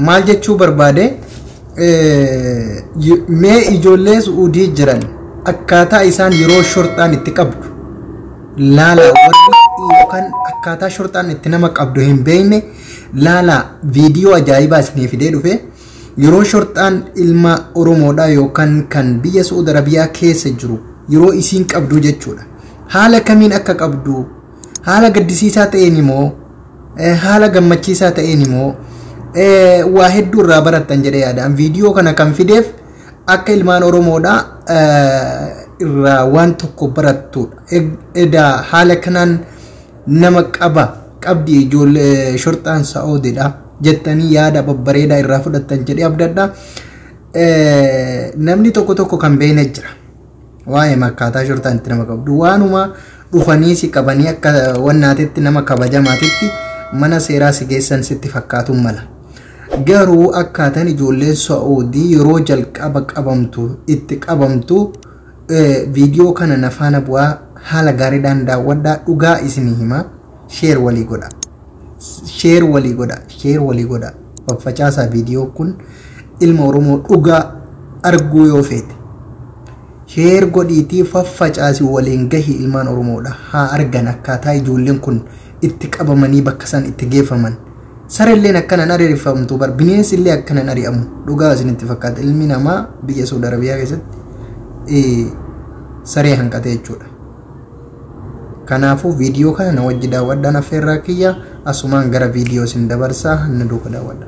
maal jechuu barbaade mee ijoollee su'uudii jiran akkaataa isaan yeroo shorxaan itti qabdu laala warri yookaan akkaataa shorxaan itti nama qabdu hin beekne laala viidiyoo ajaa'ibaa isinii fidee dhufe Yeroo shorxaan ilma Oromoodhaa yookan kan biyya Su'ud Arabiyaa keessa jiru yeroo isiin qabduu jechuudha. Haala kamiin akka qabdu, haala gaddisiisaa ta'eeni moo, haala gammachiisaa ta'eeni moo, waa hedduu irraa barattan jedhee yaada. An viidiyoo kana kan fideef akka ilmaan Oromoodhaa irraa waan tokko barattuudha. Edaa haala kanaan nama qaba qabdi ijoollee shorxaan sa'oodidha jettanii yaada babbareedaa irraa fudhattan jedhee abdadha. Namni tokko tokko kan beekne jira. Waa'ee makkaataa shorxaan itti nama qabdu waanuma dhufanii si qabanii akka wannaatetti nama kabajamaatitti mana seeraa si geessan sitti fakkaatuun mala. Garuu akkaataan ijoolleen sa'oodii yeroo jalqaba qabamtu itti qabamtu viidiyoo kana na faana bu'aa haala gaariidhaan daawwadhaa dhugaa isinii himaa sheer walii godha sheer walii godha sheer walii godha faffacaasaa viidiyoo kun ilma oromoo dhugaa arguu yoo feete sheer godhiitii faffacaasi waliin gahi ilmaan oromoodha haa argan akkaataa ijoolleen kun itti qabamanii bakka isaan itti geeffaman sarelleen akkana hin ari'ifamtu bar bineensi illee akkana hin ari'amu dhugaa isinitti fakkaata ilmi namaa biyya Saudi Arabiyaa keessatti eh, saree hanqate jechuudha. Kanaafuu viidiyoo kana na wajji daawwadhaan affeerraa kiyya asumaan gara viidiyoo isin dabarsaa na duuka daawwadha.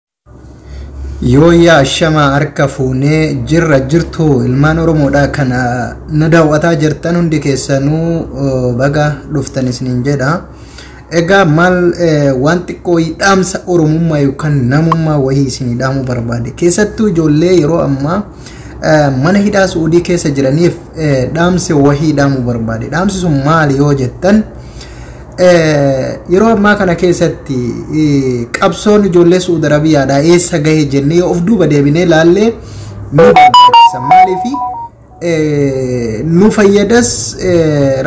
Yooyyaa ashamaa harka fuunee jirra jirtu ilmaan Oromoodhaa kana nu daawwataa jirtan hundi keessanuu eh, baga dhuftan isiniin jedha. Egaa maal eh, waan xiqqoo dhaamsa Oromummaa yookaan namummaa wayii isinii dhaamuu barbaade. Keessattuu ijoollee yeroo ammaa eh, mana hidhaa Su'uudii keessa jiraniif eh, dhaamsa wayii dhaamuu barbaade. Dhaamsi sun maali yoo jettan? yeroo ammaa kana keessatti qabsoon ijoollee Su'uud Arabiyaadhaa eessa gahe jennee yoo of duuba deebinee laallee nu barbaachisa. Maaliif nu fayyadas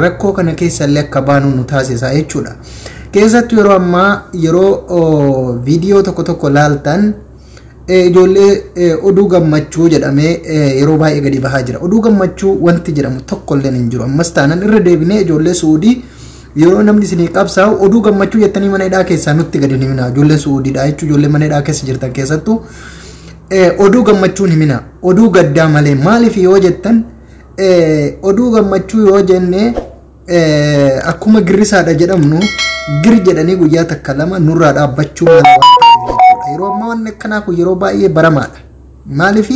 rakkoo kana keessallee akka baanu nu taasisa jechuudha. Keessattuu yeroo ammaa yeroo viidiyoo tokko tokko laaltan Ijoollee oduu gammachuu jedhamee yeroo baay'ee gadi bahaa jira. Oduu gammachuu wanti jedhamu tokko illee hin jiru. Ammas taanan irra deebinee ijoollee Suudii yeroo namni isinii qabsaa'u oduu gammachuu jettanii mana hidhaa keessaa nutti gadi himinaa. Ijoolleen Suudiidha jechuun ijoollee mana hidhaa keessa jirtan keessattuu oduu gammachuun himinaa. Oduu gaddaa malee maaliif yoo jettan oduu gammachuu yoo jennee akkuma girrisaadha jedhamnu gir jedhanii guyyaa takka lama nurraa dhaabbachuu mala waan ta'eef jechuudha. Yeroo ammaa wanni akkanaa kun yeroo baay'ee baramaadha. Maaliif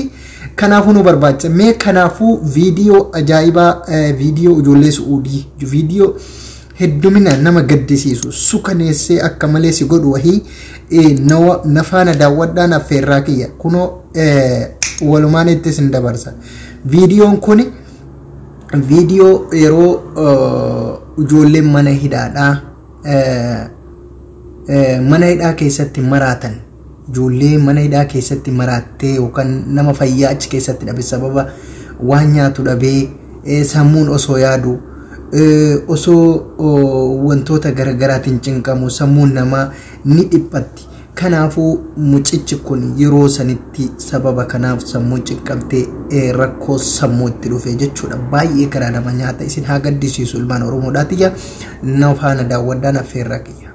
kanaafuu nu barbaacha mee kanaafuu viidiyoo ajaa'ibaa viidiyoo ijoollee su'uudii viidiyoo heddumina nama gaddisiisu sukaneessee akka malee si godhu wahii na faana daawwadhaan affeerraa kiyya kunoo walumaan ittis hin dabarsa. Viidiyoon kuni viidiyoo yeroo ijoolleen mana hidhaadhaa mana hidhaa keessatti maraatan ijoollee mana hidhaa keessatti maraattee yookaan nama fayyaa achi keessatti dhabe sababa waan nyaatu dhabee sammuun osoo yaadu osoo wantoota garaagaraatiin cinqamu sammuun namaa ni dhiphatti. Kanaafuu mucichi kun yeroo sanitti sababa kanaaf sammuun cinqamtee rakkoo sammuu itti dhufe jechuudha. Baay'ee garaa nama nyaata isin haa gaddisiisu ilmaan Oromoodhaa tiyya na faana daawwadhaan affeerraa kiyya.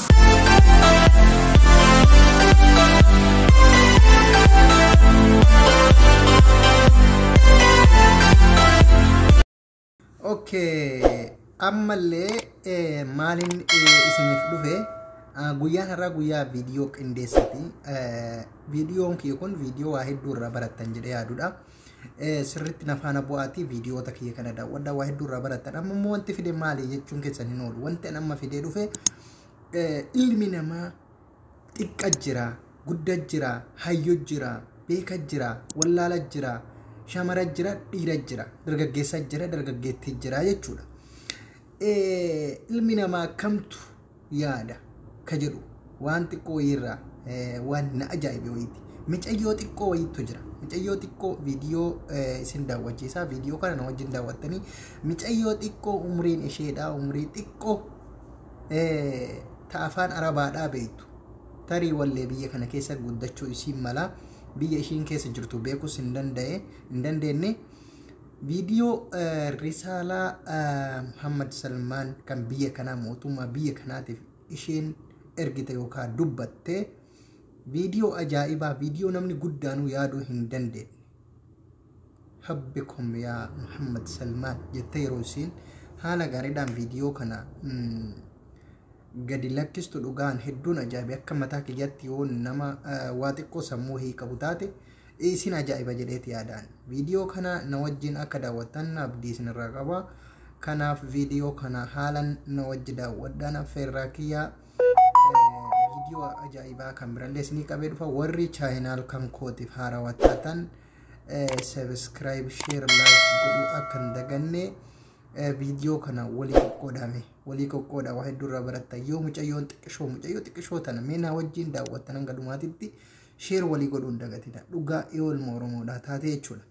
Okay. ammallee eh, maaliin eh, isiniif dhufe ah, guyyaan har'aa guyyaa viidiyoo qindeessati Eh, viidiyoon kiyya kun viidiyoo waa hedduu irraa barattan jedhee yaadudha Eh, sirriitti na faana bu'aatii viidiyoota kiyya kana daawwadha waa hedduu irraa barattan amma immoo wanti fide maali jechuun keessan hin oolu wanti an amma fidee dhufe eh, ilmi namaa xiqqa jira gudda jira hayyo jira beeka jira wallaala jira shamara jira dhiira jira dargaggeessa jira dargaggeettii jira jechuudha Eh, ilmi namaa kamtu yaada ka jedhu waan xiqqoo wayiirraa waan na ajaa'ibe wayiiti. Micayyoo xiqqoo wayiittu jira. Micayyoo xiqqoo viidiyoo isin daawwachiisaa viidiyoo kana na wajjin daawwattanii micayyoo xiqqoo umriin isheedhaa umrii xiqqoo ta afaan arabaadhaa beektu tarii wallee biyya kana keessa guddachuu isiin malaa biyya ishiin keessa jirtu beekus hin danda'e hin dandeenye Viidiyoo Risaalaa Muhammad Salmaan kan biyya kanaa mootummaa biyya kanaatiif isheen ergite yookaan dubbatte viidiyoo ajaa'ibaa viidiyoo namni guddaanuu yaaduu hin dandeenye. Habbi kom yaa Muhammad Salmaan jettee yeroo isiin haala gaariidhaan viidiyoo kana gadi lakkistu dhugaan hedduun ajaa'ibe akka mataa kiyyatti yoo nama waa xiqqoo sammuu hii qabu taate Isin ajaa'iba jedheeti yaadaan. Viidiyoo kana na wajjin akka daawwattan abdii isinirraa qaba. Kanaaf viidiyoo kana haalan na wajji daawwadhaan affeerraa kiyya. Viidiyoo ajaa'ibaa kan birallee isinii qabee dhufa. Warri chaayinaal kan kootiif haarawaa taatan sabiskiraayib sheer laayik godhuu akka hin daganne viidiyoo kana walii qoqqoodame walii qoqqooda waa hedduu irraa baratta yoo mucayyoon xiqqishoo mucayyoo xiqqishoo tana mee naa wajjin daawwattan hanga dhumaatitti Sheer walii godhuu hin dagatina. Dhugaa eolma Oromoodhaa taatee jechuudha.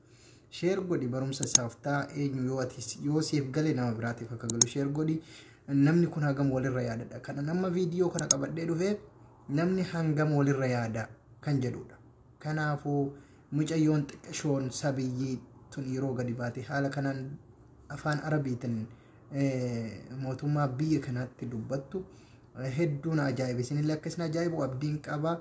Sheer godhi barumsa isaaf ta'a eenyu yoo ati yoo siif gale nama biraatiif akka galu sheer godhi. Namni kun hagam walirra yaadadha. Kana nama viidiyoo kana qabadhee dhufee namni hangam walirra yaada kan jedhudha. Kanaafuu mucayyoon xiqqashoon sabiyyii tun yeroo gadi baate haala kanaan afaan arabiitiin mootummaa biyya kanaatti dubbattu hedduu na ajaa'ibe. Isinillee akka isin ajaa'ibu abdiin qaba.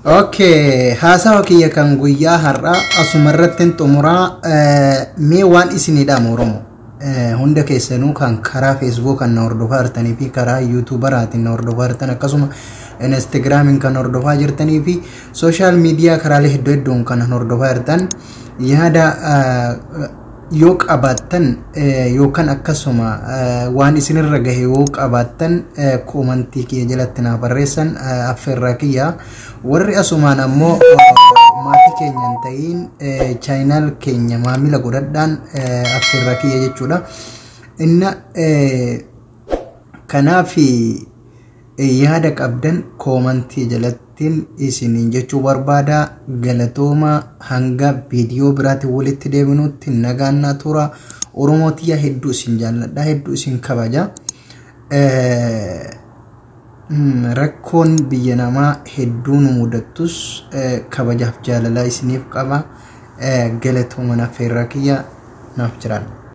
Okay, haasawa kiyya kan guyyaa har'aa asuma irratti hin xumuraa Eh, mee waan isinii dhaamu Oromoo Eh, hunda keessanuu kan karaa Facebook kan na hordofaa jirtanii fi karaa YouTuberaatiin na hordofaa jirtan akkasuma Instagramiin kan hordofaa jirtanii fi social media karaalee hedduu hedduun kan hordofaa jirtan yaada eh, yoo qabaattan yookaan akkasuma waan isinirra gahe yoo qabaattan koomantii kiyya jalatti naa barreessan affeerraa kiyya warri asumaan ammoo maatii keenya hin ta'iin chaayinaal keenya maamila godhadhaan affeerraa kiyya jechuudha inna kanaafi Yaada qabdan koomantii jalattin isiniin jechuu barbaada. Galatooma hanga viidiyoo biraatiin walitti deebinutti nagaan naa tura. Oromoo tiyya hedduu isin jaalladha hedduu isin kabaja. Rakkoon biyya namaa hedduu nu mudattus kabajaaf jaalalaa isiniif qaba. Galatooma naaf feerraa kiyya naaf jiraadha.